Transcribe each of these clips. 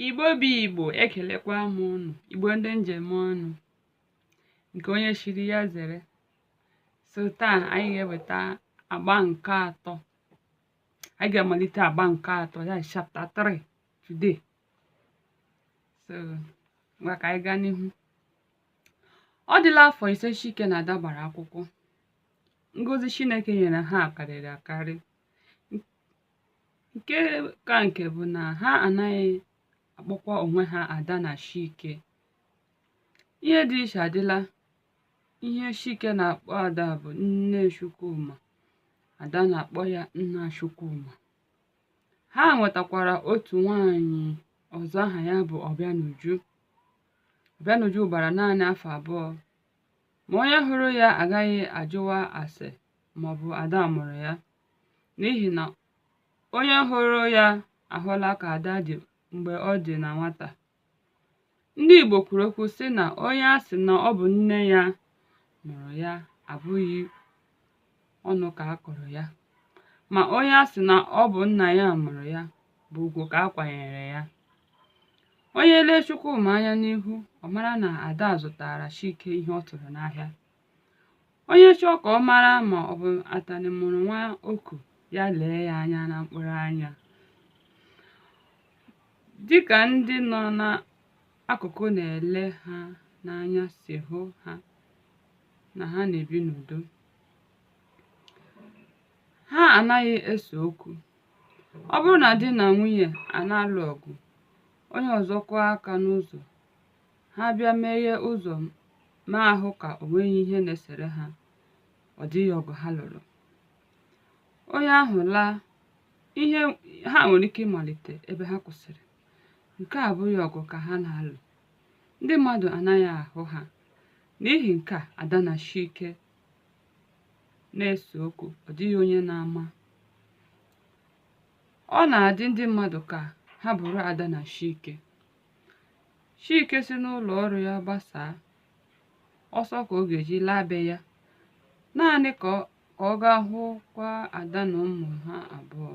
igbo bụ igbo ekelekwa m ụnụ igbo ndị njem ọnụ nke onye chiri ya zere so taa anyị ga-eweta agba nke atọ anyị ga-amalite agba nke atọ ya chapter 3 today so ngwa ka anyị gaa n'ihu ọ dịla afọ ise chike na ada gbara akwụkwọ ngozi chineke nyere ha karịrị akarị nke ka nke bụ na ha anaghị akpọkwa onwe ha ada na chike ihe dị iche adịla ihe chike na-akpọ ada bụ nne chukwuma ada na-akpọ ya nna chukwuma ha nwetakwara otu nwanyị ọzọ aha ya bụ ọbịanuju ọbịanuju gbara naanị afọ abụọ ma onye hụrụ ya agaghị ajụwa ase ma ọ bụ ada mụrụ ya n'ihi na onye hụrụ ya ahụla ka ada dị mgbe ọ dị na nwata ndị Igbo kwuru okwu sị na onye a sị na ọ bụ nne ya mụrụ ya abụghị ọnụ ka a kọrọ ya ma onye a sị na ọ bụ nna ya mụrụ ya bụ ugwu ka a kwanyere ya onye lee Chukwuma anya n'ihu ọ mara na ada zụtara Chike ihe ọ tụrụ n'ahịa onye chọọ ka ọ mara ma ọ bụ atanị mụrụ nwa oku ya lee ya anya na mkpụrụ anya dịka ndị nọ n'akụkụ na-ele ha n'anya si hụ ha na ha na-ebi n'udo ha anaghị ese okwu ọ bụrụ na di na nwunye a na-alụ ọgụ onye ọzọ kụọ aka n'ụzọ ha bịa meghee ụzọ ma ahụ ka o nweghị ihe na-esere ha ọ dịghị ọgụ ha lụrụ onye ahụ laa ihe ha nwere ike ịmalite ebe ha kwụsịrị nke a abụghị ọgụ ka ha na-alụ ndị mmadụ anaghị ahụ ha n'ihi nke a ada na chike na-ese okwu ọ dịghị onye na-ama ọ na-adị ndị mmadụ ka ha bụrụ ada na chike Chike si n'ụlọ ọrụ ya gbasaa ọsọ ka ọ ga-eji laa be ya naanị ka ọ gaa hụkwa Ada na ụmụ ha abụọ.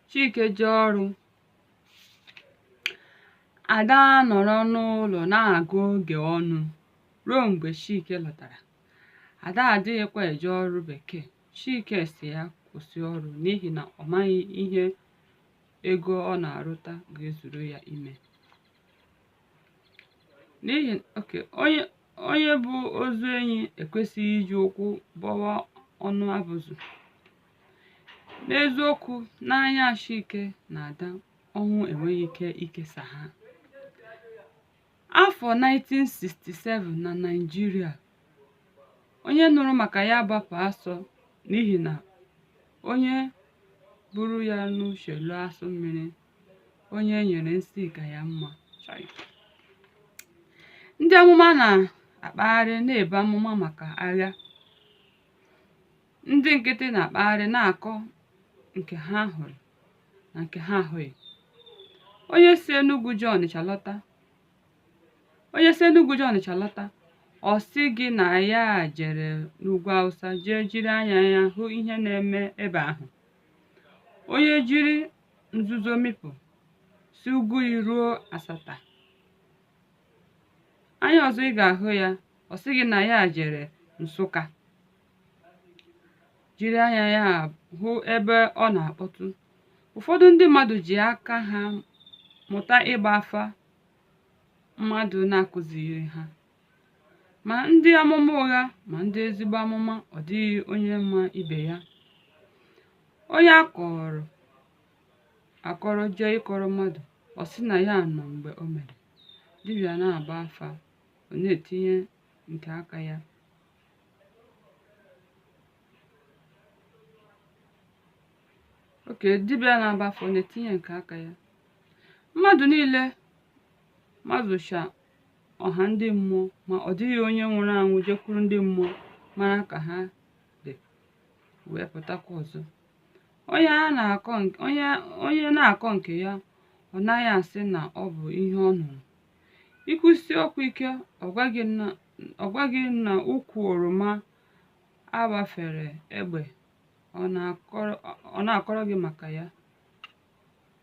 Chike jee ọrụ, Ada nọrọ n'ụlọ na-agụ oge ọnụ ruo mgbe Chike lọtara. Ada adịghịkwa eje ọrụ bekee. Chike sị ya kwụsị ọrụ n'ihi na ọ maghị ihe ego ọ na-arụta ga-ezuru ya ime n'ihi oke onye onye bu ozu enyi ekwesịghị iji ụkwụ bọwa ọnụ abụzụ n'eziokwu n'anya chike na ada ọnwụ enweghị ike ikesa ha Afọ 1967 na Naịjirịa, onye nụrụ maka ya gbapụ asọ n'ihi na onye buru ya n'uche loo asụ mmiri, onye e nyere nsi ka ya mma. Ndị amụma na-akpagharị na-ebu amụma maka agha, ndị nkịtị na-akpagharị na-akọ nke ha hụrụ. na nke ha ahụghị onye si Enugu jee Ọnịcha lọta onye si Enugu jee Ọnịcha lọta ọ sị gị na ya jere n'ugwu Awụsa jee jiri anya ya hụ ihe na-eme ebe ahụ onye jiri nzuzo mịpụ si Ogui ruo Asata anya ọzọ ị ga-ahụ ya ọ sị gị na ya jere Nsụka jiri anya ya hụ ebe ọ na-akpọtụ ụfọdụ ndị mmadụ ji aka ha mụta ịgba afa mmadụ na-akụziri ha ma ndị amụma ụgha ma ndị ezigbo amụma ọ dịghị onye ma ibe ya onye a kọọrọ akọrọ jee ịkọrọ mmadụ ọ sị na ya nọ mgbe o mere dibịa na-agba afa ọ na-etinye nke aka ya okay dibịa na-agba afa ọ na-etinye nke aka ya mmadụ niile mazucha ọha ndị mmụọ ma ọ dịghị onye nwụrụ anwụ jekwuru ndị mmụọ mara ka ha dị wee pụtakwa ọzọ onye a na-akọ nke- onye onye na-akọ nke ya ọ naghị asị na ọ bụ ihe ọ nụrụ i kwusie okwu ike ọ gwa gị na ọ gwa gị na ukwu oroma a gbafere egbe ọ na-akọrọ gị maka ya